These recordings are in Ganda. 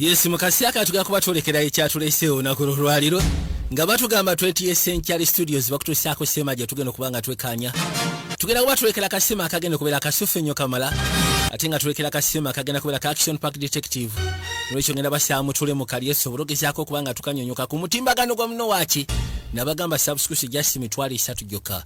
Yes, mukasi aka tugenda kuba twolekera ekyatuleeseewo olunaku lwolwaliro nga batugamba twetiye Century Studios bakutuusaako sema gye tugenda okuba nga twekaanya tugenda kuba tulekera kasima akagenda okubeera kasufu ennyo kamala ate nga tulekera kasima akagenda kubeera ka action park detective nolwekyo ngenda basaamu tule mu kalye sobola ogezaako okuba nga tukanyonyoka ku mutimbagano gwa muno waaki nabagamba subscription just mitwalo esatu gyokka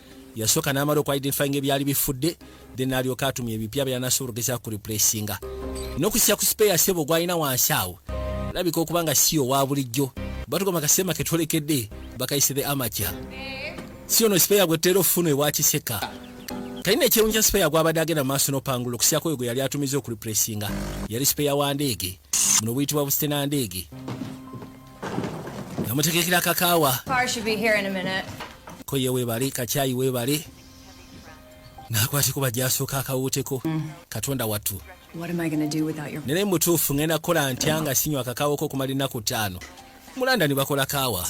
yasooka n'amala oku identifyinga ebyali bifudde then n'alyoka atumya ebipya byanasobola ogeza ku replacinga n'okusisa ku sipeya sebo gwalina wansi awo labika okuba nga si owa bulijjo batugamba kasema ke twolekedde bakayise the amaca si ono sipeya gwe tutera ofuna ewa kiseka kalina ekyewunyi kya sipeya gwabadde agenda mu maaso n'opangula okusiyako oyo gwe yali atumiza oku replacinga yali sipeya wa ndeege muno buyitibwa busite na ndeege nga mutegekera kakaawa koye webale kakyayi webale nakwateko bajasooka akawuuteko mm. katonda wattu nere mutuufu ngenda kukola ntya nga sinywa akakaawoko okumala ennaku ttaano mulanda ne bakola kaawa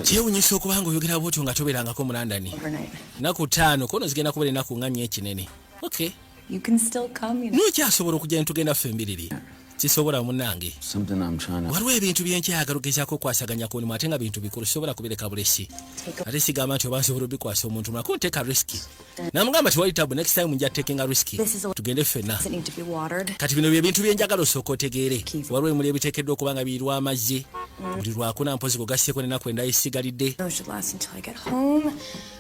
kyewunyisa okuba nga oyogera bwotyo nga toberangako mulandani naku taano kono zigenda kubera enaku nga nyo ekinene nokyasobola okugenda tugenda ffe embiriri sisobola munange waliwo ebintu byenkyayagala ogezaako okwasaganya ku mulimu ate nga bintu bikulu sisobola kubireka bulesi ate sigamba nti oba nsobola obikwasa omuntu mulako nteeka risiki namugamba tewali tabu next time nja tekinga risiki tugende ffenna kati bino byebintu byenjagala osooka otegeere waliwo emuli ebiteekeddwa okuba nga biirwa amazzi mm. buli lwakuna mpozi gogasseeko nenaku endayisigalidde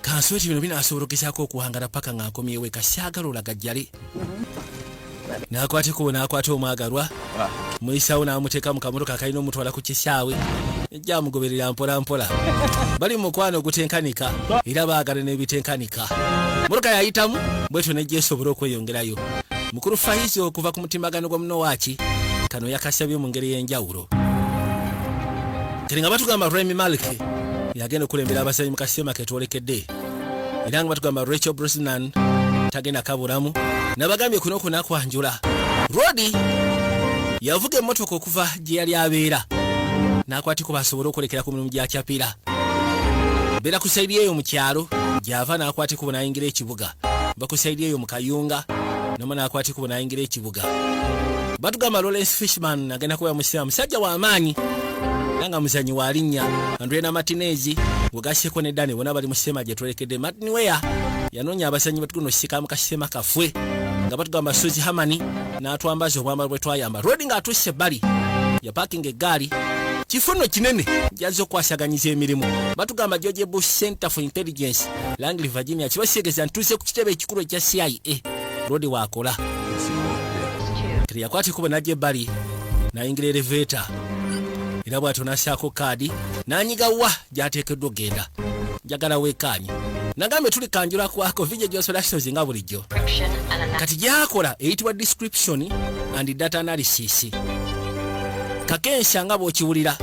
kansobe ti bino binasobola okugezaako okuwangala paka nga nkomyewo eka syagala olagajjale n'akwateko n'akwata omwagalwa muyisawo n'amuteeka mu kamotoka akalina omutwala ku kisaawe jamugoberera mpolampola bali mukwano ogutenkanika era baagala n'ebitenkanika muruka yayitamu bwetyo nejja esobola okweyongerayo mukulu faizi okuva ku mutimagano gwa munowaki kano yakasabye mu ngeri y'enjawulo kati nga batugamba remi maliki yagenda okulembera abasanyi mu kasiteema ketwolekedde era nga batugamba rachel brosnan tagenda kaburamu nabagambye kuno kunakwanjula rodi yavuga emmotoka okuva gye yali abeera n'akwatiko basobole okwolekera ku mirimu gya capira beera ku saidi eyo mu kyalo gy'ava n'akwatiko bwe nayingira ekibuga bakusaidi eyo mu kayunga nomu n'akwatiko bwe nayingira ekibuga Mpuuga batugamba Lawrence Fishman agenda kubeera musiraamu musajja wa maanyi era nga muzanyi wa linnya Andre na Martinez wegaseko ne Dani bona bali mu kisema gye twerekedde Martin Weah yanoonya abazanyi batuguno kisikamu kasisema kafwe nga batugamba Suzy Hamani n'atwambaza obwambalo bwe twayamba Rodi ng'atuuse ebbali yapakinga eggaali kifuno kinene jazza okukwasaganyiza emirimu batugamba george bush center for intelligence langley virginia kibasiegeza ntuuse ku kitebe ekikulu ekya cia lodi wakola kati yakwata ekubo najja ebbali nayingira eleveeta era bwatyo nasaako kaadi nanyiga wa gyateekeddwa okugenda njagala wekaanye nagambe tuli kanjula kwako vija gyosolasozi nga bulijjo kati gyakola eyitibwa description and data analysis kakensa nga bwokiwulira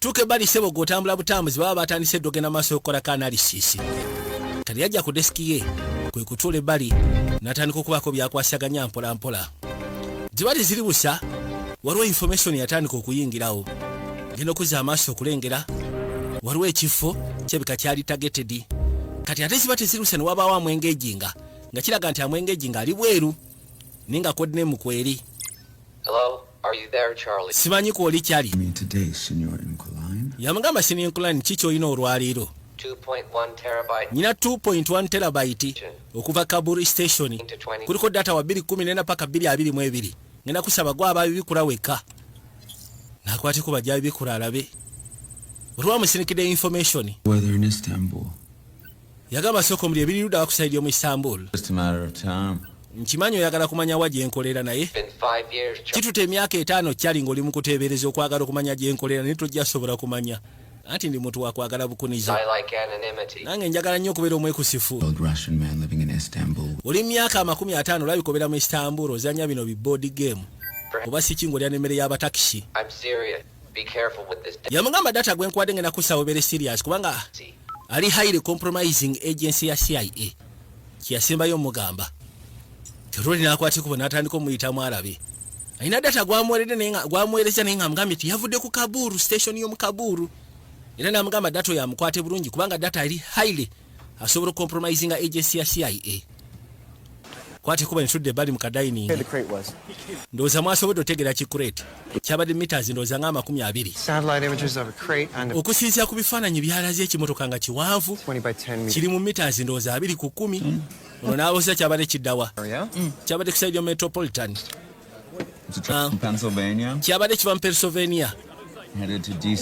tuuka ebbali sebo gwe otambula butambuzi baba batandise eddogenda maaso okukolako analysis kati yajja ku desiki ye kwe kutuula ebbali n'atandika okubaako byakwasaganya mpolampola gye bali ziri busa waliwo information yatandika okuyingirawo genda okuzza amaaso okulengera waliwo ekifo kyebika kyali tagetedi kati ate ziba teziruse ne wabaawo amwengejinga nga kiraga nti amwengejinga ali bweru naye nga kodinemu kweri simanyi kwoli kyali yamugamba sininkulani ki kyolina olwaleero nyina 2.1 terabyte okuva kaburi station kuliko data wa 214 paka 222 ngenda kusaba gwa ababibikula weka nakwateko bajja bibikula alabe olwamusinikidde information yagamba sooka omuli ebiri ludawa ku saidi y'omu istanbul nkimanyi oyagala kumanya wa gyenkolera naye kituta emyaka etaano kyali ngaoli mu kuteebereza okwagala okumanya gyenkolera naye tojja sobola kumanya anti ndi muntu wakwagala bukunizo nange njagala nnyo okubeera omwekusifu oli myaka amakumi ataano olabika obeera mu istanbul ozanya bino bi board game oba siki ngaolya nemmere y'abatakisi yamugamba data gwenkuwadde ngenda kussa webere serious kubanga ali highly compromising agency ya cia kyeyasembayo omugamba teroli nakwatikubo natandika omuyitamu alabe alina data gwamuwereza naye nga amugambye ti yavudde ku kabuuru station yomu kabuuru era namugamba data oyo amukwate bulungi kubanga data ali highly asobola okompromisinga agency ya cia kwate kuba nitudde bali mu kadayining ndowooza mwasobodde otegera ki crate kyabadde meters ndowooza nga amakumi abiri okusinzira ku bifaananyi byalaze ekimotoka nga kiwanvu kiri mu meters ndowooza abiri ku kumi ono naaboza kyabadde kiddawa kyabadde ku saidio metropolitan Ah. kyabadde kiva mu pennsylvania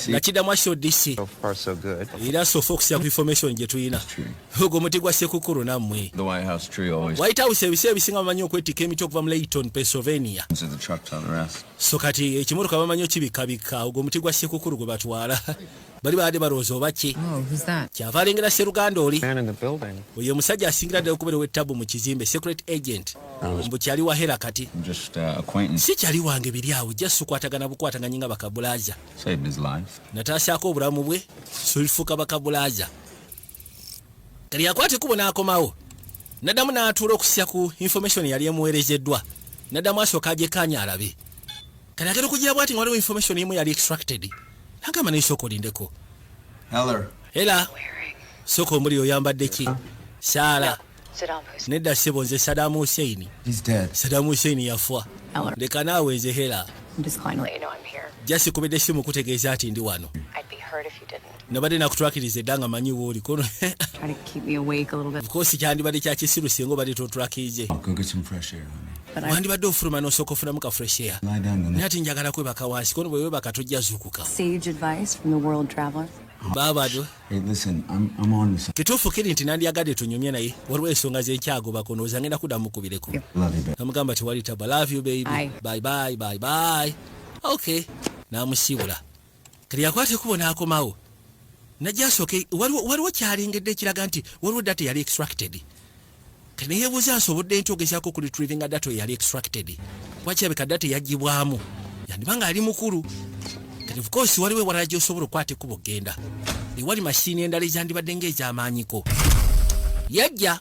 nga kiddamu akito dc era sofa okusiya ku information gye tulina ogwo muti gwa sekukulu nammwe white house ebiseera ebisinga bamanyi okwetikka emiti okuva mu layton pennsylvania so kati ekimotoka bamanyi okibikabikka ogwo muti gwa sekukulu gwe batwala bali baade balowooza oba ki oh, kyava alengera seruganda oli oyo omusajja asingira ddala okubeera ow'ettabu mu kizimbe secret agent mbu kyali wahera kati uh, si kyali wange biri awo ja sikwatagana bukwataganye nga bakabulaza nataasaako obulamu bwe solifuuka bakabulaza kali yakwata ekubo n'akomawo naddamu n'atuula okusya ku information yali emuweerezeddwa naddamu asooka agyekaanya alabe Kati agenda okugira bwati nga waliwo information emu yali extracted. Agamba naye sooka olindeko. Ela sooka omuli oyambadde ki? Saala. Nedda ssebo nze Saddam Hussein. Saddam Hussein yafa. Leka naawe nze hela. Just kubidde essimu kutegeeza nti ndi wano. nabadde nakutrakiriza edda nga manyi wooli kono of course kyandibadde kyakisiru singa obadde totrakije wandibadde ofuluma nosooka ofunamu ka fresh air naye ati njagala kwebaka wansi kono bwewebaka tojja zuukuka babado kituufu kiri nti nandiyagadde tunyumye naye waliwo ensonga zenkyagobako nooza ngenda kudda mukubireko namugamba tewali taba love you baby bye bye bye bye okay namusiibula kati yakwata ekubo n'akomawo najja asooke waliwo kyalengedde ekiraga nti waliwo data eyali extracted kati neyebuuza nsobodde nti ogezaako ku retrievinga data eyali extracted kuba kirabika data eyagibwamu yandiba nga ali mukulu kati ofcourse waliwo ewalala gyosobola okukwata ekubo okgenda ewali mashini endala ezandibadde ngaezamaanyiko yajja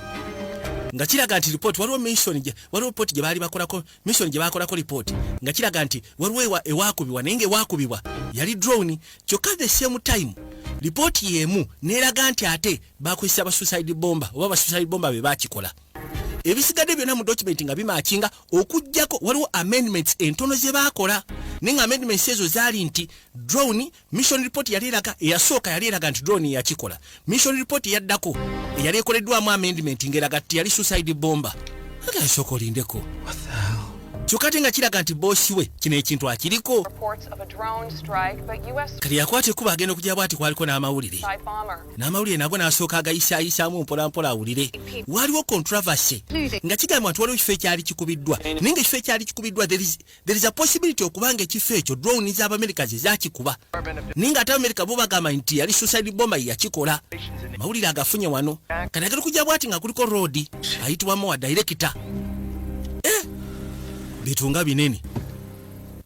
nga kiraga nti report waliwo mission je waliwo report je bali bakolako mission je bakolako report nga kiraga nti waliwo ewa ewakubiwa nenge ewakubiwa yali drone kyoka the same time report yemu neraga nti ate bakwisa ba suicide bomba oba ba suicide bomba be bakikola ebisigade byona mu document nga bimakinga okujjako waliwo amendments entono ze bakola ninga amendments ezo zali nti drone mission report yali eraga eyasooka yali eraga nti drone yakikola mission report yaddako eyali ekoleddwamu amendment ngeraga ti yali suicide bomba agasoko lindeko kyokka ate nga kiraga nti boosi we kino ekintu akiriko kati yakwata ekkuba agenda okujja bwati kwaliko n'amawulire n'amawulire nago n'asooka agayisaayisaamu mpolampola awulire waaliwo controversy nga kigamba nti waliwo ekifo ekyali kikubiddwa naye nga ekifo ekyali kikubiddwa there is a possibility okuba nga ekifo ekyo drone za abamerika ze zakikuba naye nga ate abamerika bo bagamba nti yali suicide bomba yeyakikola mawulire agafunye wano kati agenda kujja bwati nga kuliko roodi ayitibwamu wa direkita eh, bitunga binene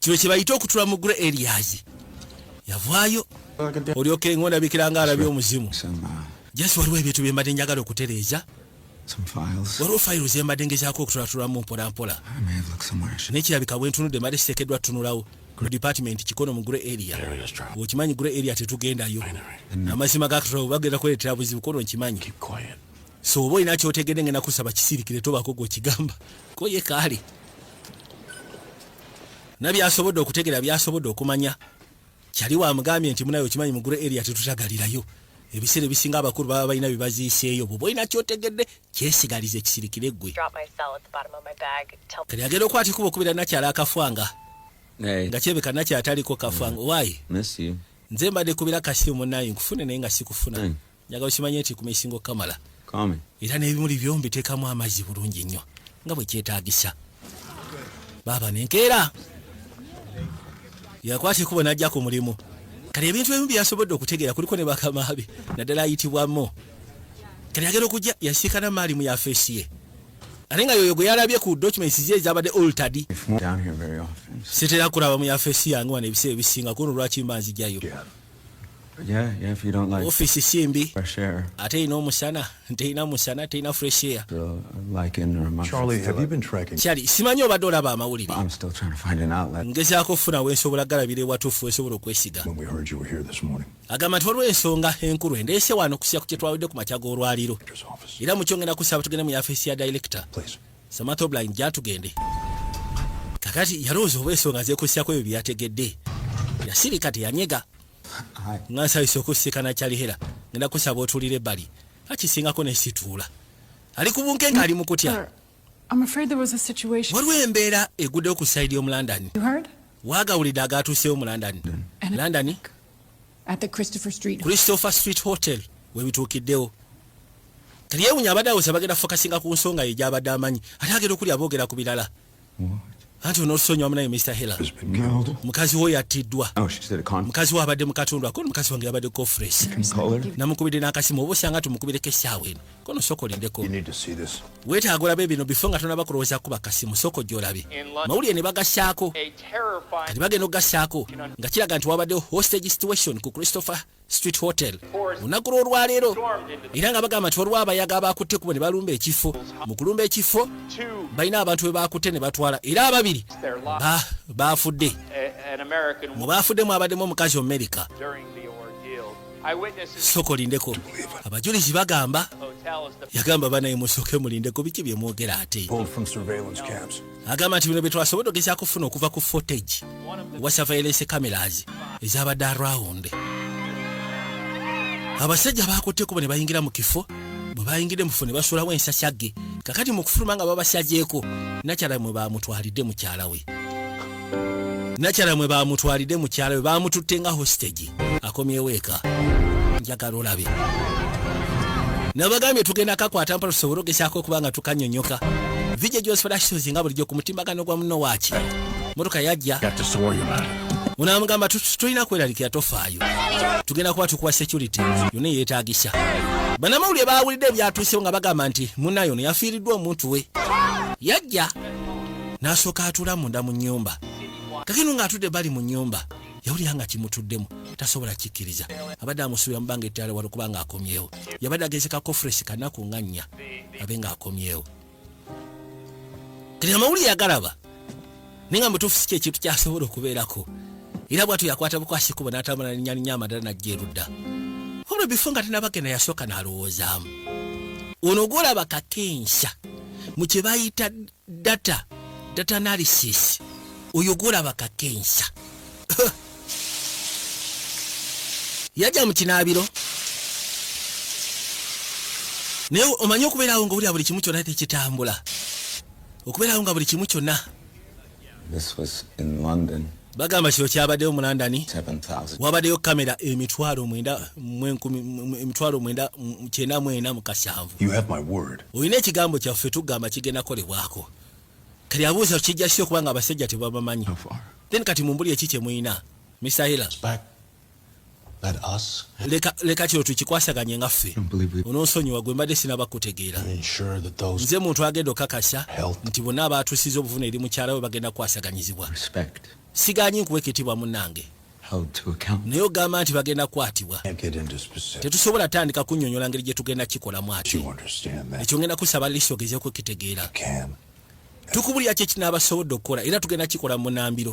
kino kyebayita okutula mu gure eriazi yavaayo olyokenga ondabikira nga alabye omuzimu jasi waliwo ebintu byembadde njagala okutereeza waliwo fayiro zembadde ngezaako okutulaatulamu mpolampola nekirabika bwentunudde mbadde kiteekeddwa tutunulawo ku department kikono mu gre area okimanyi gre area tetugendayo amazima gakatulawo bagenda kuleetera buzibu kono nkimanyi so oba olina kyotegedde ngenda kusaba kisirikire tobaako gwekigamba koye kaali nabyasobodde okutegera byasobodde okumanya kyali wamugambye nti munaye okimanyi mugulu eria tetutagalirayo ebiseera ebisinga abakulu baba balina byebaziiseeyo bwoba olina kyotegedde kyesigaliza ekisirikire ggwe kati agenda okwata ekuba okubira nakyala akafwanga nga kyebeka nakyataliko kafwanga mm. wayi nze mbadde kubira kasimu munaye nkufune naye nga sikufuna mm. njagala okimanye nti kumesinga okukamala era n'ebimuli byo mbiteekamu amazzi bulungi nnyo nga bwe kyetaagisa baaba nenkeera yakwata ekubo n'ajja ku mulimu kati ebintu ebimu byeyasobodde okutegeera kuliko ne bakamaabe naddala ayitibwamu kati agenda okujja yasiikana maali mu yafeesi ye ate nga yoyo gwe yalabye ku documents ze ezabadde oltad sitera kulaba mu yafeesi yange wano ebiseera ebisinga kuno lwaki mba nzijayo ofiisi si mbi ate erina omusana terina musana terina fresh air kyali simanyi obadde olaba amawulire ngezaako okufuna wensobola galabira ewatuufu wensobola okwesiga agamba nti waliwo ensonga enkulu endeese wano okusiya ku kyetwawedde ku makya g'olwaliro era mukyongenda kusaba tugende mu yafeesi ya director soma top line gyatugende kakati yalowooza oba ensonga zeekussako ebyo byeyategedde yasirika teyanyega nga nsabisa okusikana kyalihera ngenda kusaba otuulira ebbali akisingako nesituula ali ku bunkenke ali mu kutya waliwo embeera eguddewo ku sayidi y'omu london waagawulidde agaatuuseewo mu london london at the Christopher Street Christopher Street Hotel we bituukiddewo teyewunya abadde awoza bagenda fokasinga ku nsonga ye gyabadde amanyi ate agenda okuli aboogera ku birala anti onosonyiwa munaye Mr Hela mukazi wo yattiddwa oh, mukazi wo abadde mu katundu ako mukazi wange yabadde kofres namukubidde n'akasimu oba osanga tumukubireko essaawa eno kono soko olindeko weetaaga olabe bino bifo nga tonaba kulowooza kuba kasimu soko gy'olabe mawulire ne bagasaako kati bagenda okugasaako nga kiraga nti wabaddewo hostage situation ku christopher street hotel lunaku lw'olwaleero era nga bagamba nti waliwo abayaga abaakutte kubo ne balumba ekifo mu kulumba ekifo balina abantu be baakutte ne batwala era ababiri baafudde mu baafudde mu abaddemu omukazi omumerika soka olindeko abajulizi bagamba yagamba banaye musoke mulindeko biki byemwogera ate agamba nti bino byetwasobodde ogeza kufuna okuva ku fotage wa surveillance cameras ezabadde around abasajja bakutteko bane bayingira mu kifo bwe bayingidde mufo ne basulawo ensasage kakati mu kufuluma nga babasagyeko nakyala mwe bamutwalidde mukyala we nakyala mwe bamutwalidde mukyala we bamututte nga hostage akomyewo eka njagala olabe nabagambye tugenda kakwata mpala tusobole ogezaako okuba nga tukanyonyoka vije gyosifalakitozi nga bulijjo ku mutimbagano gwa muno waaki motoka yajja munamugamba tulina kweralikira tofaayo tugenda kuba tukuwa security yona eyetagisa banamawulire bawulidde ebyatuusewo nga bagamba nti munayo no yafiiriddwa omuntu we yajja n'asooka atula munda mu nnyumba kakino ng'atudde bali mu nnyumba yawulira nga kimutuddemu tasobola kikkiriza abadde amusuubira mubanga ettaala wali kuba nga akomyewo yabadde agezeka kofuresi kanaku nga nnya abe nga akomyewo kati amawuli yagalaba naye nga mutuufu si kyekintu kyasobola okubeerako era bwatu yakwata bukwasi kubo n'atambula nenyannya amadala najja erudda wabula bifo nga tenabagenda yasooka n'alowoozaamu ono ogwolaba kakensha mu kye bayita data data analysis oyo gwolaba kakensa yaja mu kinaabiro naye omanyi okubeerawo nga olya buli kimu kyonna tekitambula okubeerawo nga buli kimu kyonna bagamba kino kyabaddeyo mu london wabadeyo kamera emitwalo mwenda mwenkumi emitwalo mwenda kyenda mwena mukasanvu olina ekigambo kyaffe tugamba kigenda kolebwako kati abuuza kijja kisi okubanga abasajja tebabamanyi then kati mumbuli eki kyemulina misayila leka kino tukikwasaganye nga ffe ononsonyiwa gwe mbadde sinaba kutegeera nze muntu agenda okakasa nti bonna abaatusiza obuvuna eri mukyala we bagenda kukwasaganyizibwa siganyi nkuwa ekitibwa munange naye ogamba nti bagenda kukwatibwa tetusobola tandika kunyonyola ngeri gye tugenda kikolamu ati ekyo ngenda kusaba lisi ogeze okukitegeera tukubulira kyekinaabasobodde okukola era tugenda kikola munambiro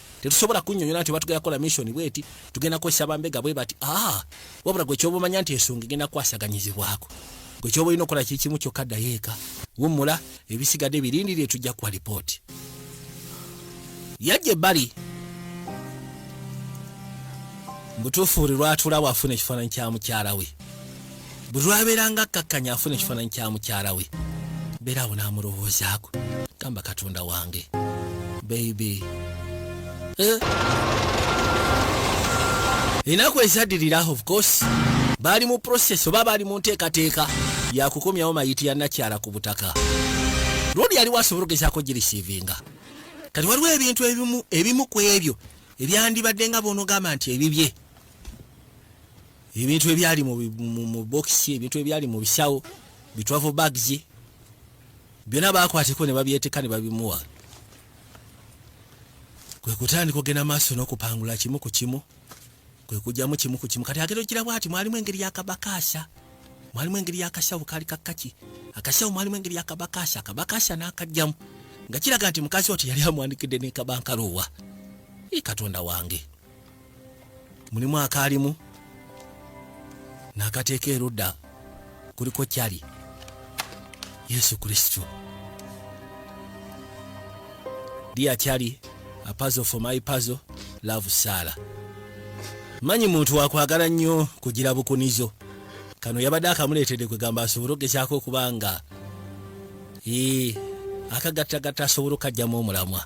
tetusobola kunyonyola nti obatugenda kukola mission bweti tugenda kukozesa bambega bwe bati ah, wabula gwe kyoba omanya nti ensonga egenda kukwasaganyizibwako gwe kyoba olina okukola kikimu kyokka ddayo eka wummula ebisigadde birindirire tujja kuwa lipooti yajja ebbali mubutuufu buli lwatulawo afuna ekifaananyi kya mukyala we bwe lwabeeranga akkakkanya afuna ekifaananyi kya mukyala we beera awo n'amulowoozaako gamba katonda wange beibe eh? enaku ezaddirira of course baali mu process oba baali mu nteekateeka yakukomyawo mayiti ya nakyala ku butaka lundi yaliwo asobola ogezaako girisiivinga kati waliwo ebintu ebimu ku ebyo ebyandibadde nga bonogamba nti ebibye ebintu ebyali mu, mu, mu bokisi ebintu ebyali mu bisawo bitwavo bags byona bakwateko ne babyeteka ne babimuwa kwe kutandika ogenda maaso n'okupangula kimu ku kimu kwe kujjamu kimu ku kimu kati agenda ogira bwati mwalimu engeri yakabakaasa mwalimu engeri yakasawo kali kakaki akasawo mwalimu engeri yakabakasa akabakasa nakajjamu nga kiraga nti mukazi wati yali amwandikidde nekabankaloowa i katonda wange mulimu akaalimu n'akateeka erudda kuliko kyali yesu kristo dia kyali apazo for my pazo love saala manyi muntu wakwagala nnyo kugira bukunizo kano yabadde akamuleetedde kwegamba asobole okugezaako okuba nga ee akagattagatta asobola okukajjamu omulamwa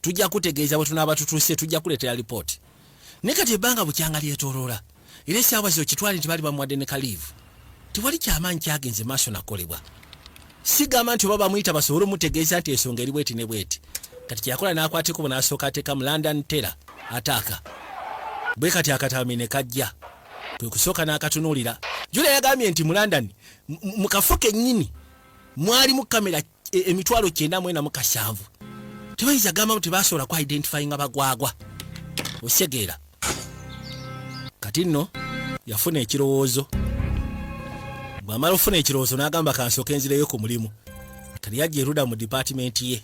tujja kutegeeza bwe tunaaba tutuuse tujja kuleetera lipooti ne kati ebbanga bukyanga lyetoloola era esaawa zino kitwali nti bali bamuwadde ne kaliivu tewali kyamaanyi kyagenze maaso nakolebwa sigamba nti oba bamuyita basobole omutegeeza nti ensonga eri bweti ne bweti kati kyeyakola n'akwateko bwe n'asooka ateeka mu london tera ataaka bwe kati akatami ne kajja kwe kusooka n'akatunuulira jula yagambye nti mu london mu kafo kennyini mwalimu kamera e, emitwalo kyenda mwena mukashanvu tebayinza gamba nti tebasobola ku identifyinga bagwagwa osegeera kati nno yafuna ekirowoozo bwamala okufuna ekirowoozo n'agamba kansooka enzireyo ku mulimu kati yajja eruda mu dipatimenti ye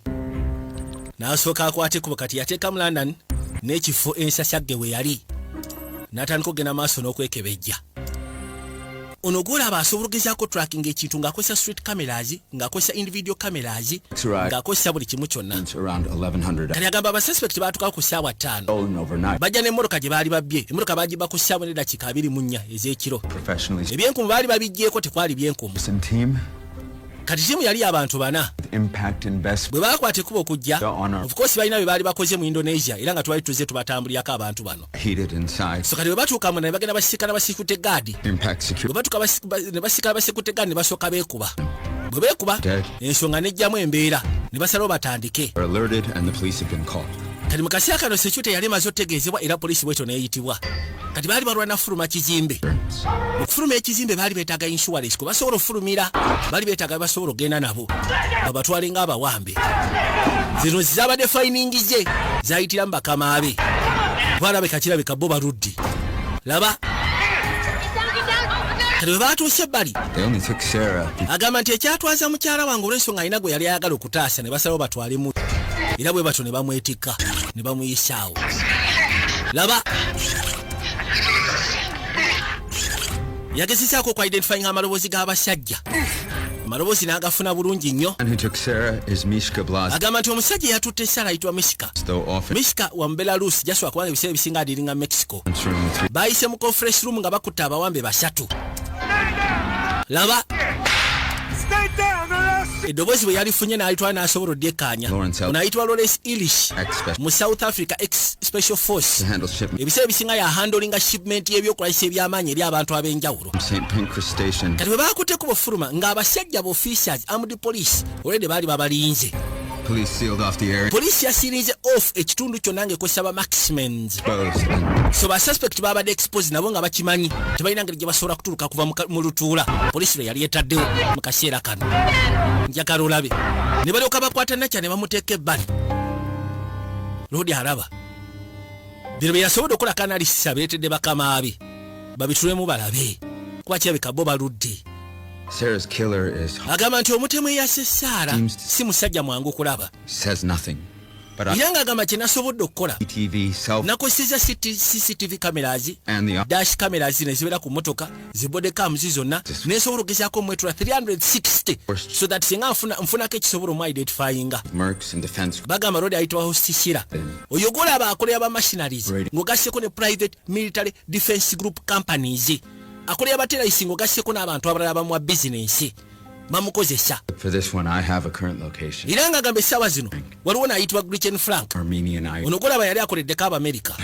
n'asooka akwate kubo kati yateekamu london n'ekifo ensasagge we yali n'atandika okugenda maaso n'okwekebejja ono gwolaba asobola ogezaako tracking ekintu ng'akozesa street cameras ng'akozesa individual cameras ng'akozesa buli kimu kyonna kati agamba abasuspect baatukawo ku ssaawa ttaano bajja n'emmotoka gye baali babbye emmotoka baagibba ku ssaawa n'eddakiika abiri mu nnya ez'ekiro ebyenkumu baali babiggyeko tekwali byenkumu kati tiimu yali abantu bana bwe baakwata ekuba okujja ofukoosi balina bye baali bakoze mu indonesia era nga twali tuzze tubatambulirako abantu bano so kati webatuuka muna nebagenda basiikana basiikute gaadi webatuuka nebasiikana basiikute gaadi nebasooka beekuba bwe beekuba ensonga nejjamu embeera nebasalawo batandike kati mu kaseera kano sekyuta yali emaze otegeezebwa era poliisi bwetyo neyitibwa kati baali balwana kufuluma kizimbe okufuluma ekizimbe baali betaaga insurance kwe basobola okufulumira baali betaaga bebasobola okugenda nabo babatwale nga abawambe baffe zino zizabadde fayiningi ze zayitira mu bakama be balabika kirabika bo baludde laba kati bwe baatuuse ebbali agamba nti ekyatwaza mukyala wange olw'ensonga alina gwe yali ayagala okutaasa ne basalawo batwale mu era bwe batyo ne bamwetikka ne bamuyisaawo laba yagezezaako oku identifying amaloboozi g'abasajja amaloboozi n'agafuna bulungi nnyo agamba nti omusajja eyatutte sara ayitibwa mishika mishika wa mubelarusi jaswa kubanga ebiseera ebisinga adiringa mexico baayise mu conference room nga bakutte abawambe basatu laba eddoboozi bwe yalifunye n'alitwala n'asobola odyekkaanya onayitibwa lawrence ilish mu south africa ex special force ebiseera ebisinga yahandolinga shipment y'ebyokulagisa eby'amaanyi eri abantu ab'enjawulo kati bwe baakutteko bufuluma ng'abasajja bu officials amd police olwedde baali babalinze poliisi yasirinze off ekitundu kyonna ngaekozesa ba maximens so basuspect babadde expose nabo nga bakimanyi tebalina ngeri gye basobola kuturuka kuva mu lutuula poliisi lwe yali etaddewo mu kaseera kano njagala olabe ne balyoka bakwata nakya ne bamuteeka ebbali loodi araba bino bye yasobodde okukola kanalisa bireetedde bakama be babitulemu balabe kuba kirabika bo baludde agamba nti omutemu eyase saara si musajja mwangu okulaba era ng'agamba kye nasobodde okukola nakozeseza cctv cameras dash cameras ne zibeera ku mmotoka zi body cam zi zonna nesobola ogezaako omwetula 360 so that singa nfunako ekisobola omu identifyinga bagamba lodi ayitibwa hostisira oyo golaba akolera ba machinaries ng'ogasseko ne private military defense group companies akolera bateraisi ng'ogasseko n'abantu abalala bamuwa bizinensi bamukozesa era nga agamba essaawa zino waliwo naayitibwa grichen frank ono golaba yali akoleddeko abamerika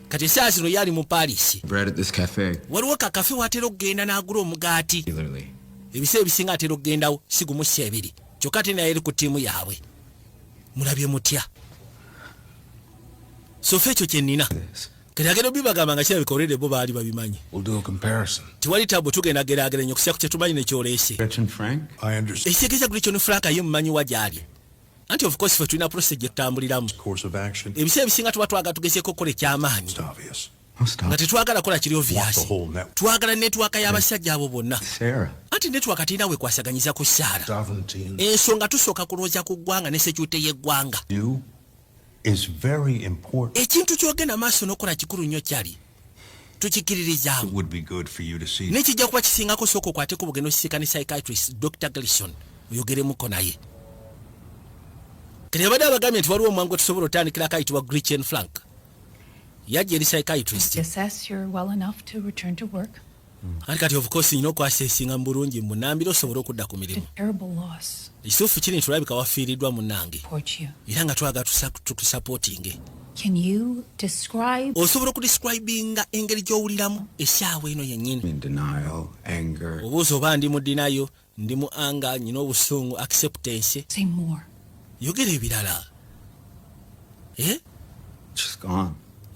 kati essaawa zino yaali mu paris waliwo kakafe watera okugenda n'agula omugaati ebiseera ebisinga atera okugendawo sigumu si ebiri kyokka ate naye eri ku ttiimu yaabwe mulabye mutya sofa ekyo kye nnina kati agenda obibagamba nga kirabika olwedde bo baali babimanyi tewali tabu tugenda gerageranya okusa ku kyetumanyi nekyoleese ekitegeeza guli kyoni frank ye mumanyi wa gyali anti of course fe tulina prose gyetutambuliramu ebiseera ebisinga tuba twagala tugezeeko okukola ekyamaanyi nga tetwagala kola kiri oviasi twagala netwaka y'abasajja abo bonna anti netwaka tirina wekwasaganyiza ku saara ensonga tusooka kulwooza ku ggwanga ne sekyute y'eggwanga ekintu kyogenda maaso nokola kikulu nnyo kyali tukikiririzaamu nekijja kuba kisingako sooka okwateko bugenda osisiika ne psychiatrist dr glison oyogeremuko naye kati abadde abagambye nti waliwo omwangu tusobola otandikira akayitibwa grichen flank yajja eri psychiatrist anti kati of course nyina okwasesinga mu bulungi mu nambira osobole okudda ku mirimu ekituufu kiri nti olabika wafiiriddwa munange era nga twagala tukusapootinge osobola okudescribinga engeri gy'owuliramu esaawa eno yennyini obuuza oba ndi mu dinayo ndi mu anga nyina obusungu acceptance yogera ebirala eh?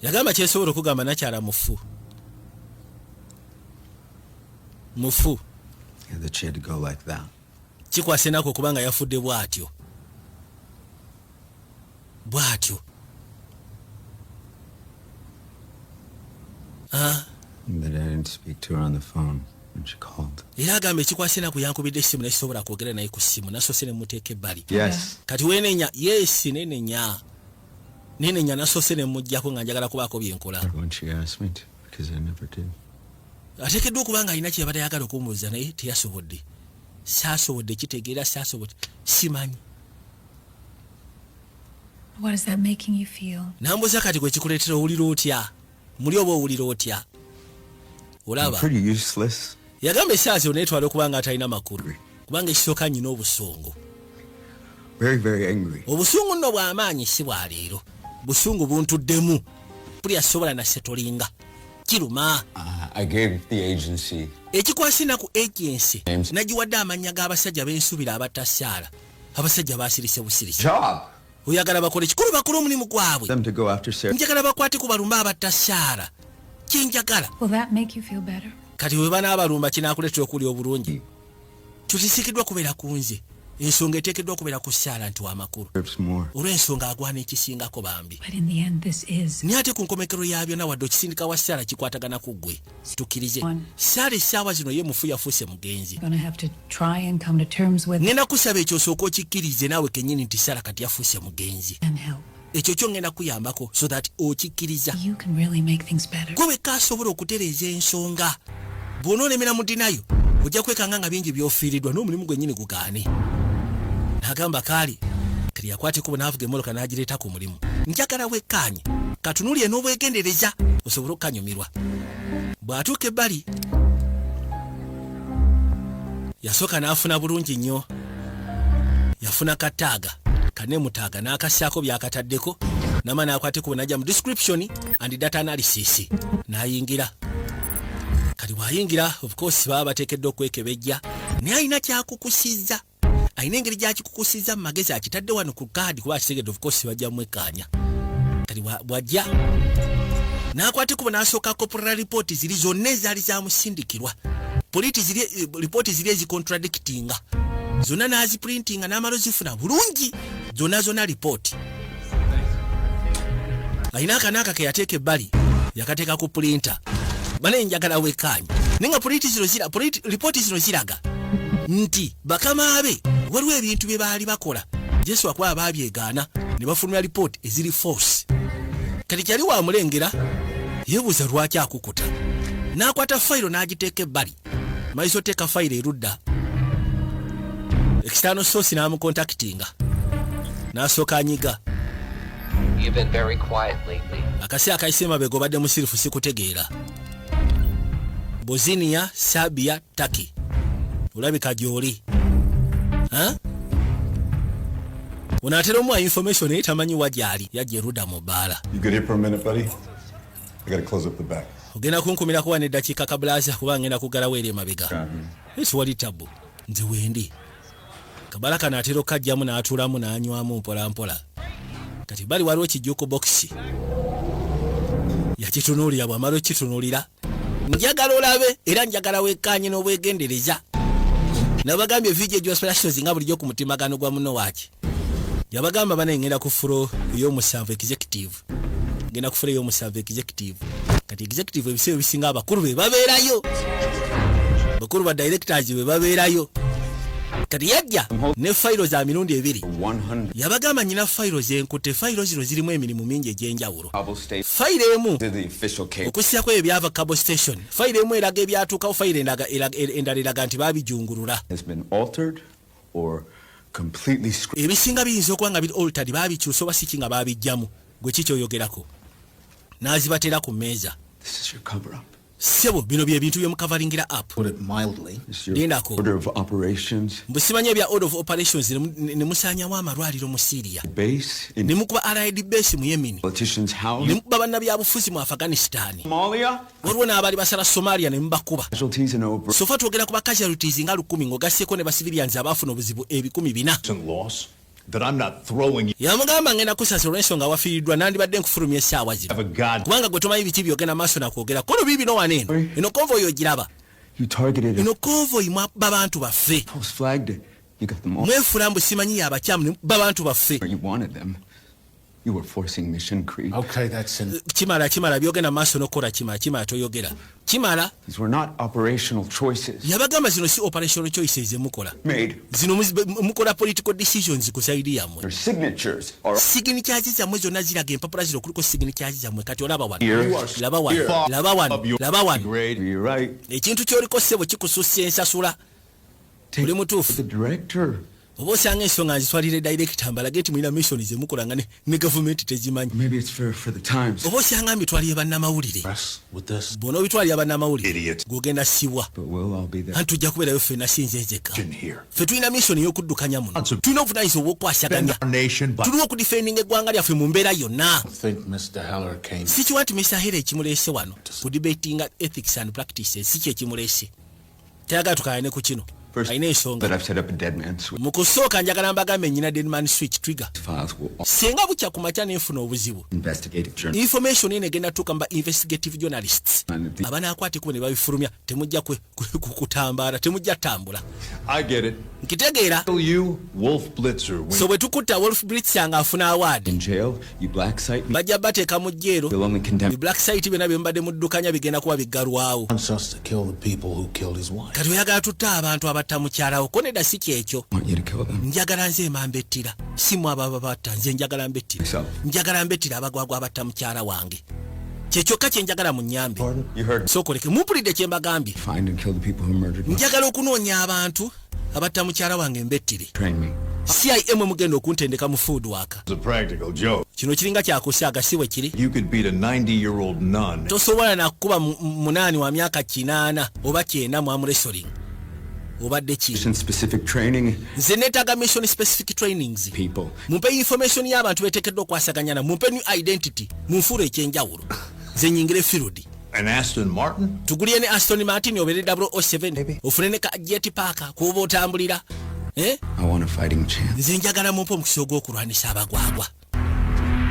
yagamba kyesobola okugamba nakyala mufu mufu kikwasa enaku okubanga yafudde bwatyo bw'atyo ah. era agamba ekikwasa enaku yankubidde essimu naye sisobola kwogera naye ku ssimu nasoose ne muteeka ebbali kati wenenya yesi nenenya nenenya nasoose ne mujjako nga njagala kubaako byenkola ateekeddwa okuba nga alina kyeyabadde ayagala okumubuuza naye teyasobodde saasobodde kitegeera saasobodde simanyi What is that making you feel? Nambuza kati gwe kikuletera owulira otya? Muli oba owulira otya? Olaba. Pretty useless. Yagamba esaazi yo netwala okubanga atalina makuru. Kubanga ekisoka nyina obusongo. Very very angry. Obusungu nno bw'amaanyi si bwa leero. Busungu buntuddemu. Buli asobola na setolinga. Kiruma. Uh, I gave the agency. Ekikwasina ku agency. Nagiwadde amannya g'abasajja b'ensubira abatasaala. abasajja basirise busirisi oyagala bakole kikulu bakole omulimu gwabwe njagala bakwate ku balumba abatta saara kyenjagala kati we banaabalumba kinakuleetera okuli obulungi tutisikiddwa kubeera ku nze ensonga eteekeddwa okubeera ku saala nti wamakulu olw'ensonga agwana ekisingako bambi naye ate ku nkomekero ya byonna wadde okisindika wa saala kikwatagana ku ggwe tukirize sara essaawa zino ye mufu yafuuse mugenzi ngenda kusaba ekyo osooka okikkirize naawe kenyini nti sara kati yafuuse mugenzi ekyo kyo ngenda kuyambako so that okikkiriza gwe wekka asobola okutereeza ensonga bwona olemera mudinayo ojja kwekanga nga bingi byofiiridwa n'omulimu gwenyini gugaane nagamba kaali kati yakwateko bwnavuga emoloka n'agireeta ku mulimu njagala wekkaanye katunulire n'obwegendereza osobole okukanyumirwa bw'atuuka ebbali yasooka n'afuna bulungi nnyo yafuna kataaga kane mutaaga n'akassaako by'akataddeko nama n'akwate ku bwenajja mu description and data analysis n'ayingira kati bw'ayingira of course baba bateekeddwa okwekebejja naye alina kyakukusizza alina engeri gyakikukusiza mu magezi akitadde wano ku kaadi kuba akitegedde ofukosi bajja mumwekkaanya kati bwajja n'akwata ekubo n'asooka kopola lipooti ziri zonna ezaali zamusindikirwa lipooti eh, ziri ezicontradikitinga zonna n'azipurintinga n'amala ozifuna bulungi zonna zonna lipooti alina akanaaka ke yateeka ebbali yakateeka ku pulinta bana enjagala wekaanyi naye nga lipooti zino ziraga nti bakama be waliwo ebintu bye baali bakola yesu akuba baabyegaana ne bafulumya lipooti eziri force kati kyali wamulengera yebuuza lwaki akukuta n'akwata fayiro n'agiteeka ebbali maiso teeka fayiro erudda ekitaano soosi n'amukontakitinga n'asooka anyiga akasi akayise emabega obadde musirifu sikutegeera bosiniya sabia taki olabika gyoli onaatera omuwa information naye tamanyi wa gyali yajja eruda mu bbaala ogenda kunkumirako wano eddakiika kabulaaza kuba ngenda kuggalawo eri emabega siwali tabbu nze wendi kabala kano atera okukajjamu n'atuulamu n'anywamu mpolampola kati bali waliwo kijjuku bokisi yakitunuulira bwamala okukitunuulira njagala olabe era njagala wekkaanye n'obwegendereza nabagambye vidiyo gyospelasitozi nga bulijjo ku mutimagano gwa muno waaki yabagamba banaye ngenda ku fulo ey'omusanvu executive ngenda kufuna eyo omusavu executive kati executive ebiseera ebisinga abakulu be babeerayo bakulu ba directors be babeerayo kati yajja ne fayiro za mirundi ebiri yabagamba nyina fayiro zenkute fayiro zino zirimu emirimu mingi egy'enjawulo fayiro emu okusiako ebyo byava cabo station fayiro emu eraga ebyatuukawo fayiro endala eraga nti babijungulula or completely screwed. Ebisinga biyinza okuba nga biri altered baabikyusa oba siki nga baabijjamu gwe ki kyoyogerako n'azibatera ku mmeeza ssebo bino bye bintu byemukavalingira app lindako mbu simanyi ebya order of operations ne musaanyawo amalwaliro mu syria ne mukuba alid base mu yemini ne mukuba bannabyabufuzi mu afghanistan Somalia. waliwo n'abaali basala somalia ne mubakuba sofa twogera ku ba casualties nga lukumi ng'ogasseeko ne basivilians abaafuna obuzibu ebikumi bina yamugamba ngenda kusasa olw'ensonga wafiiriddwa nandibadde nkufulumya essaawa zino kubanga gwe tomanyi biki byogenda maaso nakwogera kono biibi no wano eno eno konva oyo ogiraba eno konva oyi mwabba bantu baffe mwefuula mbu simanyi yabakyamu babantu baffe You were forcing mission creep. Okay, that's in. Kimala, Kimala, byogenda maso nokora Kimala, Kimala toyogera. Kimala. These were not operational choices. Yabagamba zino si operational choices mukola. Made. Zino mukola political decisions ku side ya mwe. Your signatures are signatures za mwe zona zira game papula ziro kuliko signatures za mwe kati olaba wano. Laba wano. Laba wano. Laba wano. Great. You're right. Ekintu kyoliko sebo kikususse ensasula. Take the director. oba osanga ensonga nzitwalire dayirekita mbalage nti mulina missioni zemukola nga ne gavumenti tezimanyi oba osanga mbitwaliye bannamawulire bona obitwalira bannamawulire gwogenda siwa anti tujja kubeerayo ffe nasinze nzeka ffe tulina missioni y'okuddukanya muno tulina obuvunanyisa obwokukwasaganya tuliwo okudifendinga eggwanga lyaffe mu mbeera yonna sikiwa nti mr hera ekimuleese wano kudibatinga ethics and practices si kyekimuleese tayagala tukayane ku kino alina ensonga mu kusooka njagala mbagambe nyina denman switch trigger singa bukya ku makya nenfuna obuzibu information eno egenda tuuka mu ba investigative journalists abanaakwatikubo ne babifulumya temujja kutambaala temujja tambula nkitegeera so bwe tukutta wolf blitzer nga afuna awaadi bajja bateeka mu jjeero black site byona byemubadde muddukanya bigenda kuba biggalwawo kati oyagala tutte abantu abatta mukyalawo ko nedda si kyekyo njagala nze emamba ettira simu abo ababatta nze njagala mbettira njagala mbettira abagwagwa abatta mukyala wange kyekyokka kyenjagala munyambe sokoleke mumpulidde kyembagambye njagala okunoonya abantu abatta mukyala wange mbettire cim mugenda okuntendeka mu food waka kino kiringa kyakusaaga si bwe kiri tosobola nakukuba munaani wa myaka kinaana oba kyenda mwamuresoring obadde ki nze netaaga mission specific trainings mumpe information y'abantu betekeddwa okwasaganyana mumpe new identity munfuula ekyenjawulo nze nyingire firudi An Aston Martin? Tugulie ne Aston Martin obere 007. Ofune ne ka jet parker kuba otambulira. Eh? I want a fighting chance. Nze njagala mumpo mukisa ogw'okulwanisa abagwagwa.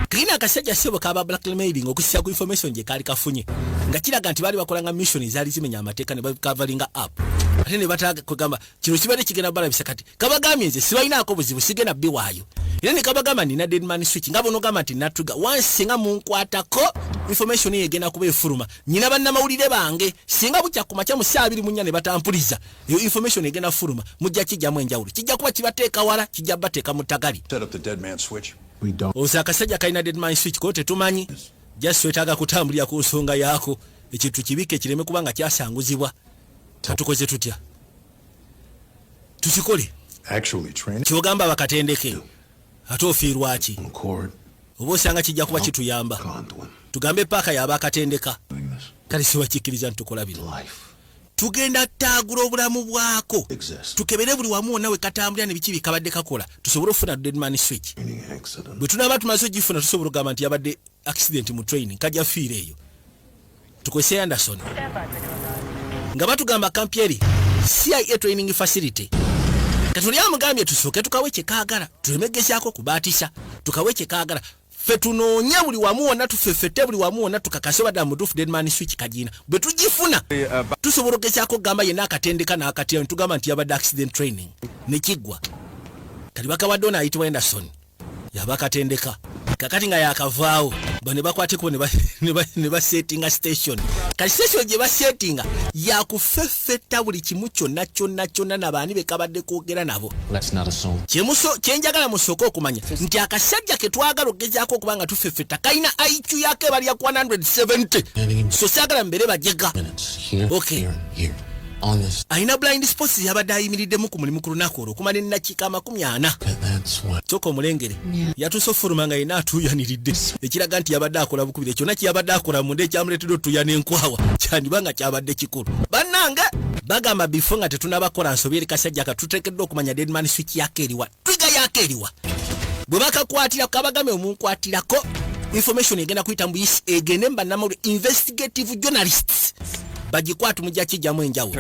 Kalina akasajja ssebo kaba blackmailing okussa ku information gye kaali kafunye nga kiraga nti baali bakolanga mission ezaali zimenya amateeka ne bakavalinga app ate ne bataaga kwegamba kino kibadde kigenda balabisa kati kabagambye nze sibalinaako buzibu sigenda biwaayo era nekabagamba nina deadman switch nga bonogamba nti natuga wansi nga munkwatako information eyo egenda kuba efuluma nyina bannamawulire bange singa bukya ku makya mu saa abiri munya ne batampuliza eyo information egenda fuluma mujja kijjamu enjawulo kijja kuba kibateeka wala kijja bateeka mu ttagali oza akasajja kalina deadman switch ko tetumanyi just wetaaga kutambulira ku nsonga yaako ekintu kibike kireme kuba nga kyasanguzibwa tukoze tutya tukikole kyogamba bakatendeke ate ofiirwaki oba osanga kijja kuba kituyamba tugambe paaka yaba akatendeka kale siwakikkiriza nitukola bino tugenda taagula obulamu bwako tukebere buli wamu wonna wekatambulira nebiki bikabadde kakola tusobole okufuna deadman switch bwe tunaaba tumaze ogifuna tusobola okugamba nti yabadde accident mu training kajja fiira eyo tukozese anderson nga batugamba kampi eri cia training facility katuli amugambye tusooke tukawe kyekagala tuleme gezaako kubaatisa tukawe kyekagala fe tunoonye buli wamu wonna tufefete buli wamu wonna tukakase obadde amutuufu denman switch kagiina bwe tugifuna tusobola ogezaako okugamba yenna akatendeka n'akatya ne tugamba nti yabadde accident training ne kiggwa kati bakawadde ono ayitibwa enderson yabakatendeka kakati nga yakavaawo ba ne bakwateko ne basetinga station kati station gye basetinga yakufeffetta buli kimu kyonna kyonna kyonna na baani be kabadde kwogera nabo kyenjagala musooka okumanya nti akasajja ke twagala okugezaako okuba nga tufeffetta kalina iq yako ebalya 170 so saagala mbeere bajega okay alina blind sports yabadde ayimiriddemu ku mulimu ku lunaku olwo okumala ennakiika amakumi ana kyoka omulengere yatuuse okufuluma nga yena atuuyaniridde ekiraga nti yabadde akola bukubire kyonna kyeyabadde akola munda ekyamuleetedde otuuya n'enkwawa kyandiba nga kyabadde kikulu bannange bagamba bifo nga tetunabakola nsobi eri kasajja katuteekeddwa okumanya deadman swiki yako eriwa figa yako eriwa bwe bakakwatira kabagame omunkwatirako information egenda kuyita mu isi egende mbanamulu investigative journalists bagikwatu mujja kijjamu enjawulo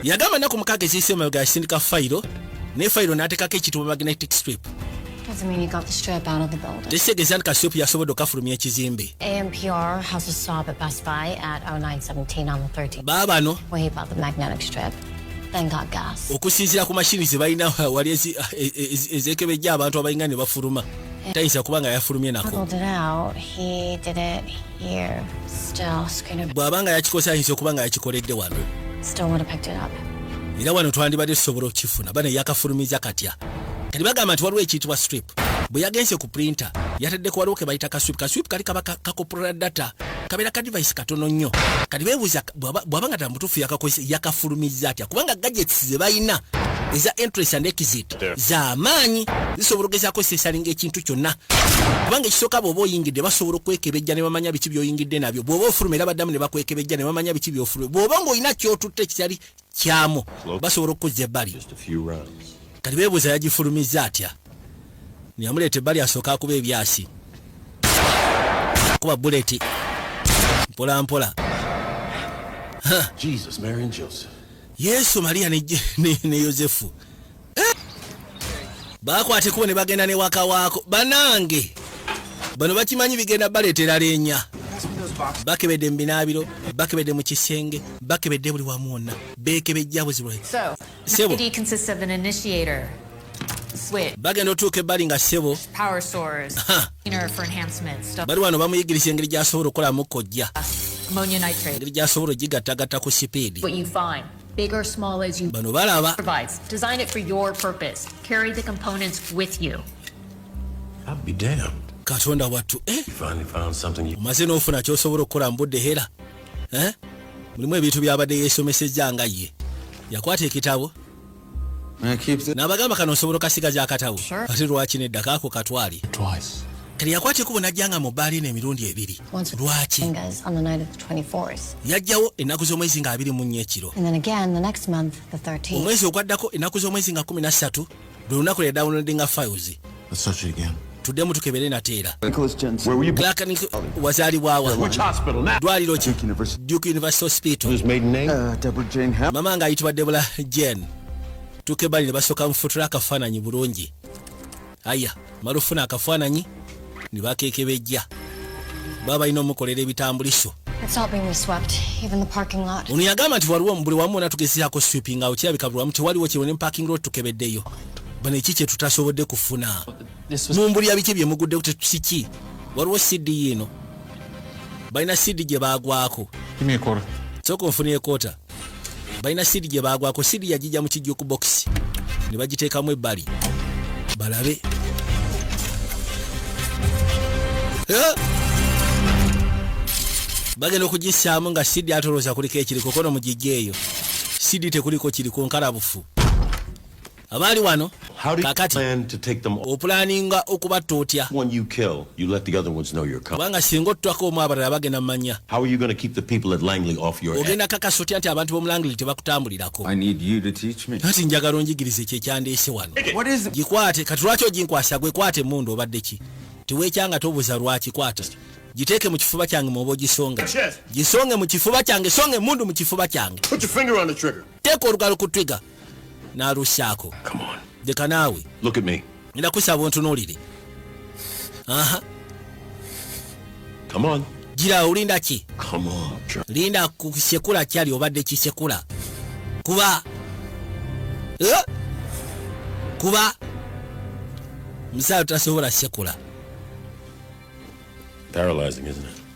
yagamba naku mukaaga eziyise emabega yasindika fayiro ne fayiro n'ateekako ekitibwa magnetic strip Tekitegezan Kasyopu yasobodde okafulumya ekizimbe. AMPR has a stop at Best Buy at 0917 on the 13th. Baabano. Where he bought the magnetic strip. okusinzira ku mashini zebalina wali ezekebejja abantu abalinga ne bafuluma tayinza kuba nga yafulumye nako bw'aba nga yakikozesa ayinza okuba nga yakikoledde wano era wano twandibadde tusobola okukifuna bane yakafulumiza katya kati bagamba nti waliwo ekiyitibwa strip bwe yagenze ku printa yataddeko waliwo ke bayita kaswip kaswip kali kaba kakopulula data kabeera ka divayisi katono nnyo kati beebuuza bw'aba nga tala mutuufu yakakozesa yakafulumizza atya kubanga gadgets ze balina eza entrance and exit za maanyi zisobola okugezaako sesalinga ekintu kyonna kubanga ekisooka bw'oba oyingidde basobola okwekebejja ne bamanya biki by'oyingidde nabyo bw'oba ofuluma era baddamu ne bakwekebejja ne bamanya biki by'ofuluma bw'oba ng'olina ky'otutte ekitali kyamu basobola okukuzza ebbali kati bebuuza yagifulumizza atya yamuleeta ebbali asooka akuba ebyasi kuba buleti mpolampola yesu mariya ne yosefu bakwata ekubo ne bagenda ne waka waako banange bano bakimanyi bigenda baleetera leenya bakebedde mu binaabiro bakebedde mu kisenge bakebedde buli wamu wonna beekebejja buzibwe sebo bagenda otuuka ebbali nga ssebo bali wano bamuyigiriza engeri gyasobola okukolamu kojja engeri gyasobola ogigattagatta ku sipiidi big or small as you bano balaba provides design it for your purpose carry the components with you I'll be damned katonda wattu eh? omaze n'ofuna kyosobola okukola mbudde hera eh? mulimu ebintu byabadde yesomesezza nga ye yakwata ekitabo nabagamba kano osobola okasigaza akatabo ate lwaki nedda kaako katwali Kati yakwata ekubo n'ajja nga mu bbaala eno emirundi ebiri. Lwaki? Yajjawo ennaku z'omwezi nga abiri mu nnya ekiro. Omwezi ogwaddako ennaku z'omwezi nga kumi na ssatu lwe lunaku lwe dawunodinga files. Tuddemu tukebere nate era. Wazaalibwawa? Ddwaliro ki? Duke University Hospital. Uh, Mama ng'ayitibwa Debula Jane. Tukebali ne basooka mufutura akafaananyi bulungi. Aya mala ofuna akafaananyi ne bakekebejja baba balina omukolera ebitambuliso ono yagamba nti waliwo buli wamu wona tugezeako sweeping awo kirabika buli wamu tewaliwo kiriwo ne parking lot tukebeddeyo bano eki kye tutasobodde kufuna mumbulira biki bye muguddeku tetusiki waliwo cd yiino balina cd gye baagwako sooka onfunire kota balina siri gye baagwako siri yagijja mu kijjo ku bokisi ne bagiteekamu ebbali balabe bagenda okugissaamu nga sidi atolooza kuliko ekiriko kono mu gijja eyo sidi tekuliko kiriko nkalabufu abaali wano kakati opulaninga okubatta otya kubanga singa ottwako omu abalala bagenda mu manya ogenda kakasa otya nti abantu b'omulangley tebakutambulirako kati njagala onjigirize kyekyandeese wano gikwate kati lwaki oginkwasa gwe kwata emundu obadde ki tiwekyanga tobuza lwaki kwata giteeke mu kifuba kyange mwoba ogisonga gisonge mu kifuba kyange songa emundu mu kifuba kyange teeka olugalo ku twiga n'alussaako leka naawe ngenda kusaba ontunuulire aha gira olinda ki linda kusekula kyali obadde kisekula kuba eh? kuba musaala tasobola sekula paralyzing isn't it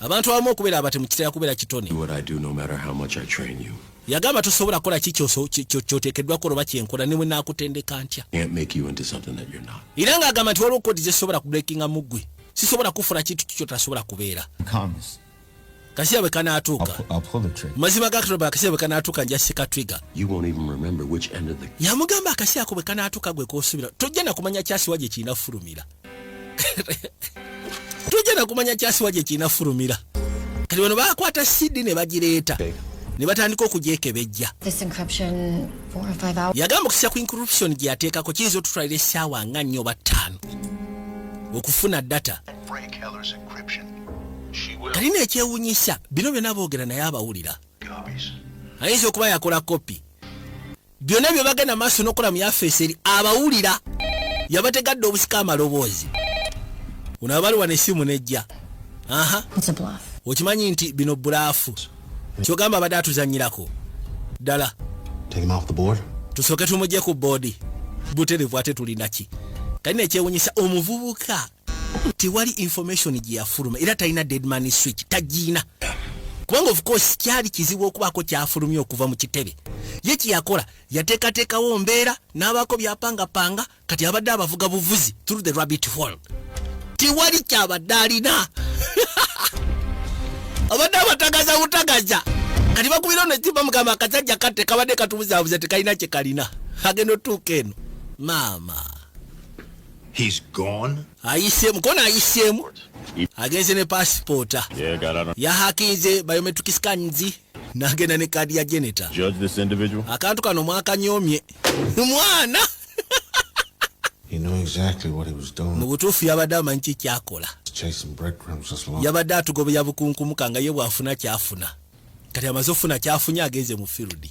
abantu abamu okubeera abatemu kitera kubeera kitone yagamba tosobola kukola ki kyoteekeddwa kukola oba kyenkola ne bwe naakutendeka ntya era ng'agamba nti waliwo kodi zesobola kubrekinga mu ggwe sisobola kufuna kintu kikyo tasobola kubeera kasiya bwe kanaatuuka mazima gakitoba akasiya bwe kanaatuuka nja sika twiga yamugamba akasiya ako bwe kanaatuuka gwe kosubira tojja nakumanya kyasiwa gye kirina kufulumira tujja nakumanya kyasiwa gye kirina fulumira kati bano bakwata sidi ne bagireeta ne batandika okugyekebejja yagamba okukisa ku incorruption gye yateekako kiyinza otutwalira essaawa nga nnyo oba ttaano okufuna data kati neekyewunyisa bino byonna boogera naye abawulira ayinza okuba yakola kopi byonna bye bagenda maaso n'okukola mu yafeesi eri abawulira yabategadde obusika amaloboozi uno abali wano essimu nejja aha okimanyi nti bino bulaafu kyogamba abadde atuzanyirako ddala tusooke tumugye ku boodi buterevu ate tulinaki kali nekyewunyisa omuvubuka tewali information gyeyafuluma era talina deadman switch tagiina kubanga of course kyali kizibu okubaako kyafulumye okuva mu kitebe ye kyeyakola yateekateekawo mbeera n'abaako byapangapanga kati abadde abavuga buvuzi through the rabbit hall tewali kyabadde alina abadde abatagaza butagaza kati bakubira ono ekimba mugamba akasajja katte kabadde katubuzabuza tekalina kyekalina agenda otuuka eno maama He's gone. Ayisemu kona ayisemu. Agenze ne passporta. Yeah, got out. Yahakinze biometric scans nagenda ne kadi ya geneta. Judge this individual. Akantu kano mwaka nyomye. Mwana. He knew exactly what he was doing. Mu butuufu yabadde amanyi ki kyakola. Yabadde atugobeya bukunkumuka nga ye bw'afuna kyafuna. Kati amaze ofuna kyafunye agenze mu field.